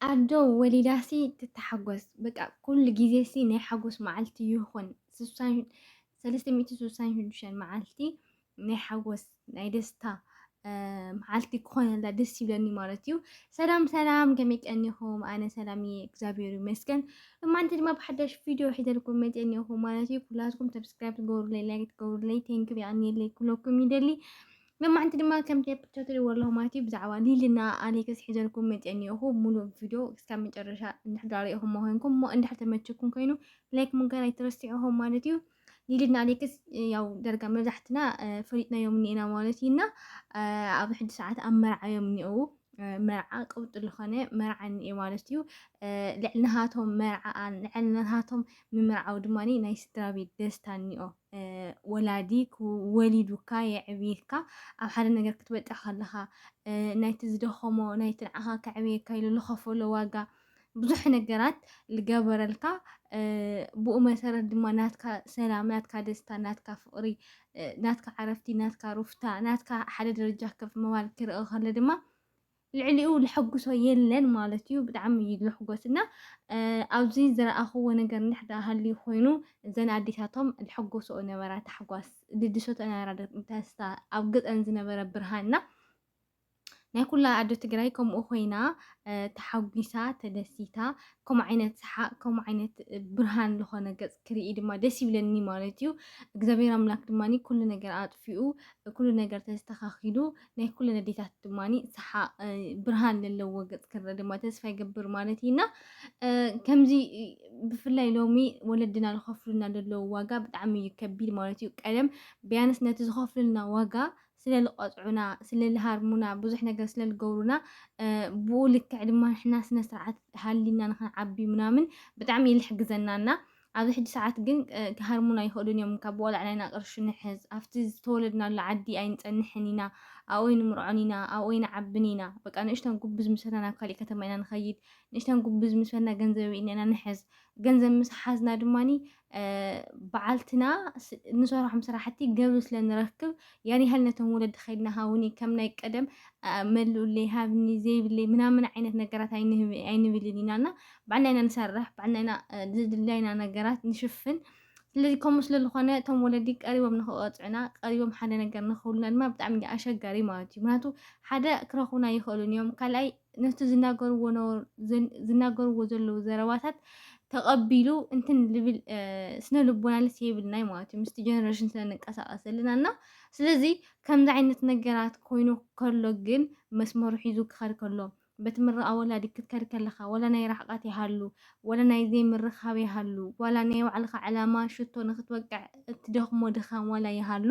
ኣዶ ወሊዳሲ ትታሓጎስ በቃ ኩሉ ግዜሲ ናይ ሓጎስ መዓልቲ ይኹን ስሳን ሰለስተ ሚእቲ ስሳን ሽዱሽተን መዓልቲ ናይ ሓጎስ ናይ ደስታ መዓልቲ ክኾነላ ደስ ይብለኒ ማለት እዩ። ሰላም ሰላም ከመይ ቀኒኹም? ኣነ ሰላም እየ እግዚኣብሔር ይመስገን። እማንቲ ድማ ብሓዳሽ ቪድዮ ሒዘልኩም መፅአ እኒኹ ማለት እዩ። ኩላትኩም ሰብስክራይብ ትገብሩለይ ላይክ ትገብሩለይ ቴንኪው የቐንየለይ ኩለኩም ይደሊ ንማዓንቲ ድማ ከምቲ ኣብ ፒክቸር ትሪእዎ ኣለኹም ማለት እዩ ብዛዕባ ሊልና ኣሌክስ ሒዘልኩም መፅአ እኒኦኹ ሙሉእ ቪድዮ እስካብ መጨረሻ እንድሕዳ ሪኢኹሞ ኮይንኩም እሞ እንድሕር ተመችኩም ኮይኑ ላይክ ምግባር ኣይትረስዕኹም ማለት እዩ ሊልና ኣሌክስ ያው ደርጋ መብዛሕትና ፈሊጥናዮም እኒኤና ማለት እዩ እና ኣብ ሕጂ ሰዓት ኣብ መርዓ እዮም እኒኦው መርዓ ቅብጡ ዝኾነ መርዓ እኒኤ ማለት እዩ ልዕሊ ናሃቶም መርዓ ልዕሊ ናሃቶም ምምርዓው ድማ ናይ ስድራ ቤት ደስታ እኒኦ ወላዲ ወሊዱካ የዕብየካ ኣብ ሓደ ነገር ክትበጽሕ ከለኻ ናይቲ ዝደኸሞ ናይቲ ንዓኻ ከዕብየካ ኢሉ ዝኸፈሎ ዋጋ ብዙሕ ነገራት ዝገበረልካ ብኡ መሰረት ድማ ናትካ ሰላም ናትካ ደስታ ናትካ ፍቕሪ ናትካ ዓረፍቲ ናትካ ሩፍታ ናትካ ሓደ ደረጃ ከፍ ምባል ክርእ ከሎ ድማ ልዕሊኡ ለሐጉሶ የለን ማለት እዩ ብጣዕሚ እዩ ለሕጎስ እና ኣብዚ ዝረኣኽዎ ነገር እንድሕር ሃልዩ ኮይኑ እዘን ኣዴታቶም ለሐጎሶኦ ነበራ ታሕጓስ ልድሰቶ ነበራ ደስታ ኣብ ገፀን ዝነበረ ብርሃን እና ናይ ኩላ ኣዶ ትግራይ ከምኡ ኮይና ተሓጒሳ ተደሲታ ከምኡ ዓይነት ሰሓቅ ከምኡ ዓይነት ብርሃን ዝኾነ ገፅ ክርኢ ድማ ደስ ይብለኒ ማለት እዩ እግዚኣብሔር ኣምላክ ድማ ኩሉ ነገር ኣጥፊኡ ኩሉ ነገር ተስተኻኺሉ ናይ ኩሉ ነዴታት ድማ ሰሓቅ ብርሃን ዘለዎ ገፅ ክረእ ድማ ተስፋ ይገብር ማለት ኢና ከምዚ ብፍላይ ሎሚ ወለድና ዝኸፍሉና ዘለዉ ዋጋ ብጣዕሚ እዩ ከቢድ ማለት እዩ ቀደም ቢያንስ ነቲ ዝኸፍሉልና ዋጋ ስለ ዝቐፅዑና ስለ ዝሃርሙና ብዙሕ ነገር ስለ ዝገብሩና ብኡ ልክዕ ድማ ንሕና ስነ ስርዓት ሃሊና ንክንዓቢ ምናምን ብጣዕሚ እዩ ዝሕግዘናና ኣብዚ ሕጂ ሰዓት ግን ክሃርሙና ኣይኽእሉን እዮም ካብ ዋላ ዕላይና ቅርሺ ንሕዝ ኣብቲ ዝተወለድናሉ ዓዲ ኣይንጸንሕን ኢና ኣብኡ ኣይንምርዖን ኢና ኣብኡ ኣይንዓብን ኢና በቃ ንእሽተን ጉብዝ ምስ በልና ናብ ካሊእ ከተማ ኢና ንኸይድ ንእሽተን ጉብዝ ምስ በልና ገንዘብ ኣብ ኢድና ኢና ንሕዝ ገንዘብ ምስ ሓዝና ድማ በዓልትና ንሰርሖም ስራሕቲ ገብሪ ስለ ንረክብ ያን ያህል ነቶም ወለዲ ከድና ሃውኒ ከም ናይ ቀደም መልኡለይ ሃብኒ ዘይብለይ ምናምን ዓይነት ነገራት ኣይንብልን ኢና እና ባዕልና ኢና ንሰርሕ ባዕልና ኢና ዝድላይና ነገራት ንሽፍን ስለዚ ከምኡ ስለ ዝኾነ እቶም ወለዲ ቀሪቦም ንክቐፅዑና ቀሪቦም ሓደ ነገር ንክብሉና ድማ ብጣዕሚ ኣሸጋሪ ማለት እዩ ምክንያቱ ሓደ ክረኽቡና ይኽእሉን እዮም ካልኣይ ነቲ ዝናገርዎ ዝናገርዎ ዘለዉ ዘረባታት ተቐቢሉ እንትን ልብል ስነ ልቦናልስ የብልናይ ማለት እዩ ምስቲ ጀነሬሽን ስለ ንንቀሳቐስ ዘለና እና ስለዚ ከምዚ ዓይነት ነገራት ኮይኑ ከሎ ግን መስመሩ ሒዙ ክኸድ ከሎ በቲ ምርቓ ወላዲ ክትከድ ከለኻ ወላ ናይ ራሕቓት ይሃሉ ወላ ናይ ዘይምርኻብ ይሃሉ ዋላ ናይ ባዕልኻ ዕላማ ሽቶ ንክትወቅዕ እትደኽሞ ድኻም ዋላ ይሃሉ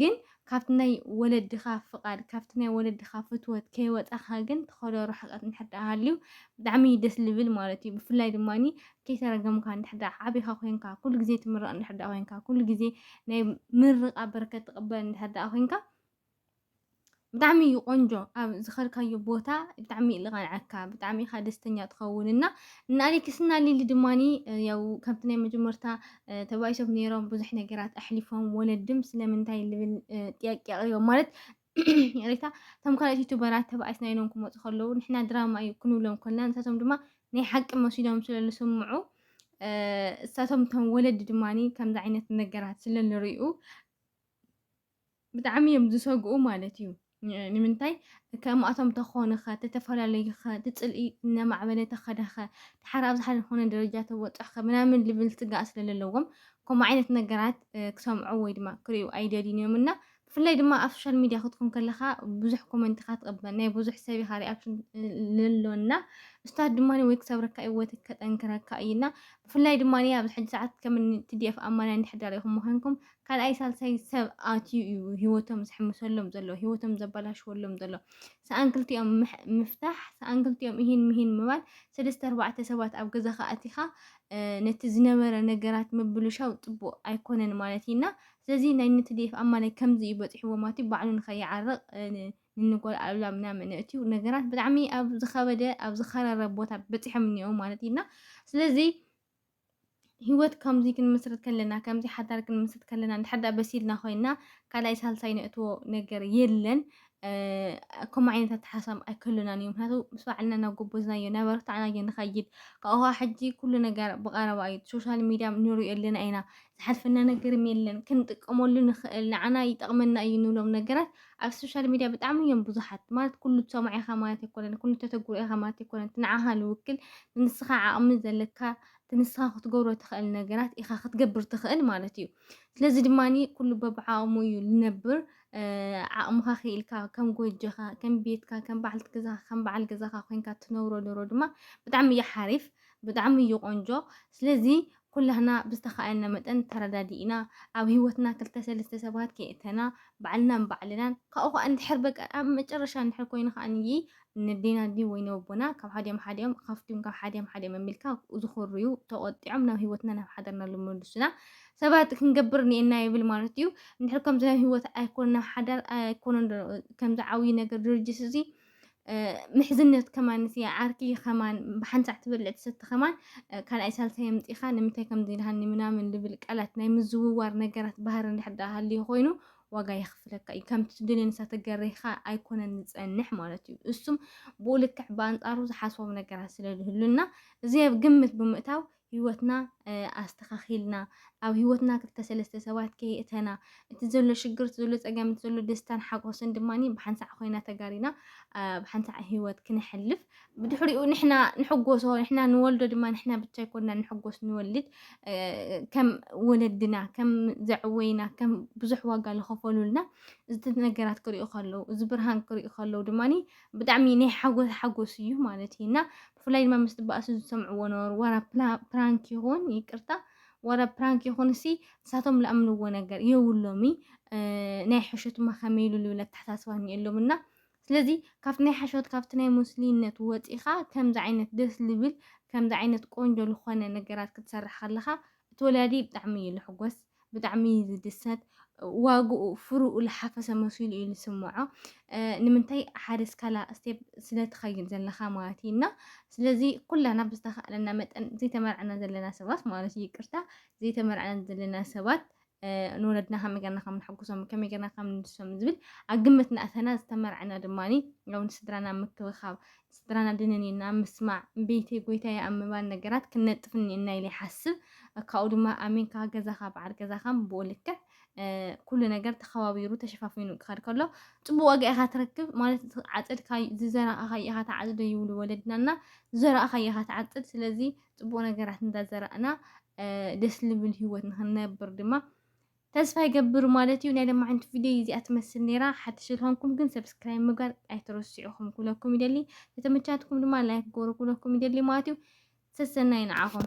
ግን ካብቲ ናይ ወለድኻ ፍቓድ፣ ካብቲ ናይ ወለድኻ ፍትወት ከይወጻኻ ግን ትኸዶ ርሕቀት እንድሕር ደኣ ሃልዩ ብጣዕሚ እዩ ደስ ልብል ማለት እዩ። ብፍላይ ድማ ከይተረገምካ እንድሕር ደኣ ዓቢኻ ኮይንካ፣ ኩሉ ግዜ ትምረቕ እንድሕር ደኣ ኮይንካ፣ ኩሉ ግዜ ናይ ምርቓ በረከት ትቕበል እንድሕር ደኣ ኮይንካ ብጣዕሚ እዩ ቆንጆ ኣብ ዝኸድካዮ ቦታ ብጣዕሚ እዩ ልቐንዐካ ብጣዕሚ ኢኻ ደስተኛ ትኸውን እና እና ኣሌክስ እና ሊሊ ድማኒ ያው ከምቲ ናይ መጀመርታ ተባኢሶም ነይሮም ብዙሕ ነገራት ኣሕሊፎም ወለድም ስለምንታይ ልብል ጥያቄ ኣቕሪቦም ማለት ይቕሬታ እቶም ካልኦት ዩቱበራት ተባኢስና ኢሎም ክመፁ ከለዉ ንሕና ድራማ እዩ ክንብሎም ኮልና ንሳቶም ድማ ናይ ሓቂ መሲሎም ስለ ዝስምዑ እሳቶም እቶም ወለዲ ድማ ከምዚ ዓይነት ነገራት ስለ ዝርእዩ ብጣዕሚ እዮም ዝሰግኡ ማለት እዩ ንምንታይ ከምኣቶም ተኾንኸ ተተፈላለዩኸ ትፅልኢ እነማዕበለ ተኸደኸ ተሓር ኣብዚ ሓደ ዝኾነ ደረጃ ተወፅሕኸ ምናምን ልብል ስጋእ ስለለለዎም ከምኡ ዓይነት ነገራት ክሰምዑ ወይ ድማ ክሪኡ ኣይደልዩን እዮም እና ብፍላይ ድማ ኣብ ሶሻል ሚድያ ክትኩን ከለኻ ብዙሕ ኮመንት ኢኻ ትቕበል ናይ ብዙሕ ሰብ ኢኻ ሪኣክሽን ለሎና እስታት ድማ ወይ ክሰብረካ እዩ ወይ ከጠንክረካ እዩና ብፍላይ ድማ ኣብዚ ሕጂ ሰዓት ከም ቲዲኤፍ ኣማና እንድሕዳር ኢኹም ምዃንኩም ካልኣይ ሳልሳይ ሰብ ኣትዩ እዩ ህይወቶም ዝሕምሰሎም ዘሎ ህይወቶም ዘበላሽወሎም ዘሎ ሰኣን ክልቲኦም ምፍታሕ ሰኣን ክልቲኦም እሂን ምሂን ምባል ሰለስተ ኣርባዕተ ሰባት ኣብ ገዛኻ ኣቲኻ ነቲ ዝነበረ ነገራት ምብልሻው ፅቡቅ ኣይኮነን ማለት እዩና ስለዚ ናይ ንትዲኤፍ ኣማላይ ከምዚ እዩ በፂሕዎ ማቲ ባዕሉ ንኸይዓርቕ ንንጎል ኣሉላ ምናምን እትዩ ነገራት ብጣዕሚ ኣብ ዝኸበደ ኣብ ዝኸረረ ቦታ በፂሖም እኒኦ ማለት እዩና ስለዚ ህይወት ከምዚ ክንምስርት ከለና ከምዚ ሓዳር ክንምስርት ከለና እንድሕር ደኣ በሲልና ኮይና ካልኣይ ሳልሳይ ነእትዎ ነገር የለን ከምኡ ዓይነት ኣተሓሳብ ኣይከሉናን እዩ ምክንያቱ ምስ ባዕልና እናጎበዝናዮ እናበረታዕናዮ ንኸይድ ካብኡ ሕጂ ኩሉ ነገር ብቐረባ እዩ ሶሻል ሚድያ ንሪኦ ኣለና ኢና ዝሓልፈና ነገርም የለን ክንጥቀመሉ ንኽእል ንዓና ይጠቕመና እዩ ንብሎም ነገራት ኣብ ሶሻል ሚድያ ብጣዕሚ እዮም ብዙሓት ማለት ኩሉ ትሰምዖ ኢኻ ማለት ኣይኮነን ኩሉ ተተግብሮ ኢኻ ማለት ኣይኮነን እቲ ንዓኻ ዝውክል ንንስኻ ዓቕሚ ዘለካ እቲ ንስኻ ክትገብሮ ትኽእል ነገራት ኢኻ ክትገብር ትኽእል ማለት እዩ ስለዚ ድማ ኩሉ በብዓቕሙ እዩ ዝነብር ዓቕምኻ ክኢልካ ከም ጎጆኻ ከም ቤትካ ከም በዓልቲ ገዛኻ ከም በዓል ገዛኻ ኮንካ ትነብሮ ዶሮ ድማ ብጣዕሚ እዩ ሓሪፍ ብጣዕሚ እዩ ቆንጆ ስለዚ ኩላህና ብዝተኻእለና መጠን ተረዳዲእና ኣብ ሂወትና ክልተ ሰለስተ ሰባት ከየእተና ባዕልና ንባዕልናን ካብኡ ካኣ እንድሕር በቃ ኣብ መጨረሻ እንድሕር ኮይኑ ካኣኒ ነዴና ድዩ ወይ ነቦና ካብ ሓዲኦም ሓዲኦም ኻፍትም ካብ ሓዲኦም ሓዲኦም ኣቢልካ ዝኹርዩ ተቆጢዖም ናብ ሂወትና ናብ ሓዳርና ልመልሱና ሰባት ክንገብር ኔና ይብል ማለት እዩ እንድሕር ከምዚ ናብ ሂወት ኣይኮን ናብ ሓዳር ኣይኮነን ከምዚ ዓብይ ነገር ድርጅት እዚ ምሕዝነት ከማን እቲ ዓርኪ ከማን ብሓንሳዕ ትበልዕ ትሰቲ ከማን ካልኣይ ሳልሳይ የምፂኻ ንምንታይ ከምዚ ኢልሃኒ ምናምን ልብል ቃላት ናይ ምዝውዋር ነገራት ባህሪ እንድሕር ዳኣ ሃልዩ ኮይኑ ዋጋ የኽፍለካ እዩ ከምቲ ትደልዮ ንሳ ተገሪኻ ኣይኮነን ዝፀንሕ ማለት እዩ እሱም ብኡ ልክዕ ብኣንፃሩ ዝሓስቦም ነገራት ስለዝህሉና እዚ ኣብ ግምት ብምእታው ህይወትና ኣስተኻኺልና ኣብ ህይወትና ክልተ ሰለስተ ሰባት ከየእተና እቲ ዘሎ ሽግር እቲ ዘሎ ፀገም እቲ ዘሎ ደስታን ሓጎስን ድማ ብሓንሳዕ ኮይና ተጋሪና ብሓንሳዕ ህይወት ክነሕልፍ ብድሕሪኡ ንሕና ንሕጎሶ ንሕና ንወልዶ ድማ ንሕና ብቻ ይኮንና ንሕጎስ ንወልድ ከም ወለድና ከም ዘዕወይና ከም ብዙሕ ዋጋ ዝኸፈሉልና እዚ ነገራት ክሪኡ ከለዉ እዚ ብርሃን ክሪኡ ከለዉ ድማ ብጣዕሚ ናይ ሓጎስ ሓጎስ እዩ ማለት እዩ እና ብፍላይ ድማ ምስ ትባእሱ ዝሰምዕዎ ነበሩ። ዋላ ፕራንክ ይኹን ይቅርታ ዋላ ፕራንክ ይኹን እሲ ንሳቶም ዝኣምንዎ ነገር የብሎሚ ናይ ሕሾትማ ከመይ ኢሉ ዝብል ኣተሓሳስባ እኒኤሎም እና ስለዚ ካብቲ ናይ ሓሾት ካብቲ ናይ ሙስሊነት ወፂኻ ከምዚ ዓይነት ደስ ዝብል ከምዚ ዓይነት ቆንጆ ዝኾነ ነገራት ክትሰርሕ ከለኻ እቲ ወላዲ ብጣዕሚ እዩ ዝሕጎስ ብጣዕሚ እዩ ዝድሰት ዋግኡ ፍርኡ ልሓፈሰ መሲሉ እዩ ዝስምዖ ንምንታይ ሓደ ስካላ ስቴፕ ስለትኸይድ ዘለኻ ማለት እዩ እና ስለዚ ኩላና ብዝተኸእለና መጠን ዘይተመርዕና ዘለና ሰባት ማለት እዩ ይቅርታ ዘይተመርዕና ዘለና ሰባት ንወለድና ከመይ ገርና ከም ንሕጉሶም ከመይ ገርና ከም ንድሶም ዝብል ኣብ ግምት ንኣተና ዝተመርዕና ድማ ውን ስድራና ምክብኻብ ስድራና ድንኒና ምስማዕ፣ እምቢይተይ ጎይታይ ኣብ ምባል ነገራት ክንነጥፍ እኒኤና ኢለ ይሓስብ። ካብኡ ድማ ኣሚንካ ገዛኻ በዓል ገዛኻ ብኡ ልክዕ ኩሉ ነገር ተኸባቢሩ ተሸፋፊኑ ክኸድ ከሎ ፅቡቅ ዋጋ ኢኻ ትረክብ ማለት ዓፀድካ ዝዘራእኻዮ ኢኻ ትዓፅዶ ይብሉ ወለድናና ዝዘራእኻዮ ኢኻ ትዓፅድ ስለዚ ፅቡቅ ነገራት እንዳዘራእና ደስ ልብል ሂወት ንክንነብር ድማ ተስፋ ይገብር ማለት እዩ ናይ ለማዓንቲ ቪድዮይ እዚኣ ትመስል ነይራ ሓድሽ ዝኾንኩም ግን ሰብስክራይብ ምግባር ኣይትረስዑ ክም ኩለኩም ይደሊ ተተመቻትኩም ድማ ላይክ ግበሩ ክብለኩም ይደሊ ማለት እዩ ሰሰናዩ ንዓኹም።